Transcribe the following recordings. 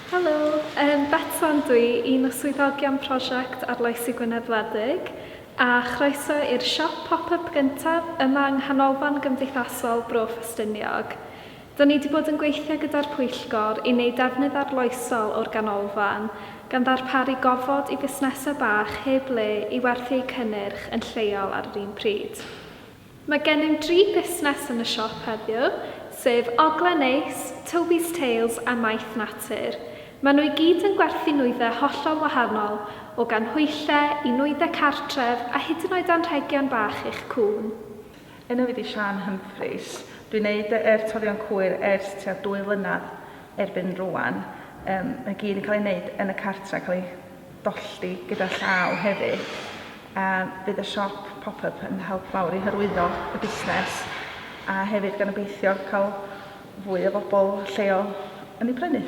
Helo, yym Betsan dw i, un o swyddogion prosiect Arloesi Gwynedd Wledig, a chroeso i'r siop pop-yp gyntaf yma yng Nghanolfan Gymdeithasol Bro Ffestiniog. Dw ni 'di bod yn gweithio gyda'r pwyllgor i wneud defnydd arloesol o'r ganolfan, gan ddarparu gofod i fusnesau bach heb le i werthu eu cynnyrch yn lleol ar yr un pryd. Mae gennym dri busnes yn y siop heddiw, sef Ogla Neis, Toby's Tales a Maeth Natur. Maen nhw i gyd yn gwerthu nwyddau hollol wahanol, o ganhwyllau i nwyddau cartref a hyd yn oed anrhegion bach i'ch cŵn. Enw i 'di Siân Humphreys. Dwi'n neud y yr torion cwyr ers tua dwy flynadd erbyn rwan. Yym mae gyd yn cael ei neud yn y cartre, cael ei dolldy gyda llaw hefyd, a bydd y siop pop-up yn help mawr i hyrwyddo y busnes a hefyd gan obeithio cael fwy o bobl lleol yn ei prynu.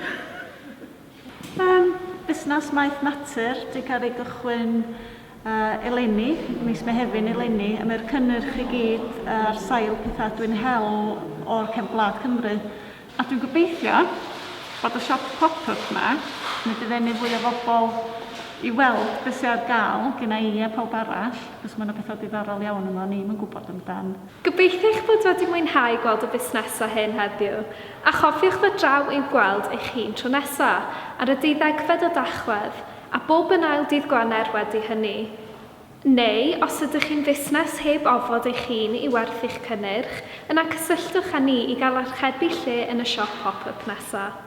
Mae'n busnes maeth natur, 'di cael ei gychwyn eleni, mis Mehefin eleni, a mae'r cynnyrch i gyd ar sail pethau dwi'n hel o'r cefn gwlad Cymru. A dwi'n gobeithio bod y siop pop-up 'ma yn mynd i ddenu fwy o bobl i weld be sy ar gael genna i a pawb arall, achos mae 'na pethau diddorol iawn yma o'n i'm yn gwybod amdan. Gobeithio eich bod wedi mwynhau gweld y busnesau hyn heddiw, a chofiwch ddod draw i'w gweld eich hun tro nesa', ar y deuddegfed o Dachwedd, a bob yn ail dydd Gwener wedi hynny. Neu, os ydych chi'n fusnes heb ofod eich hun i werthu'ch cynnyrch, yna cysylltwch â ni i gael archebu lle yn y siop pop-yp nesaf.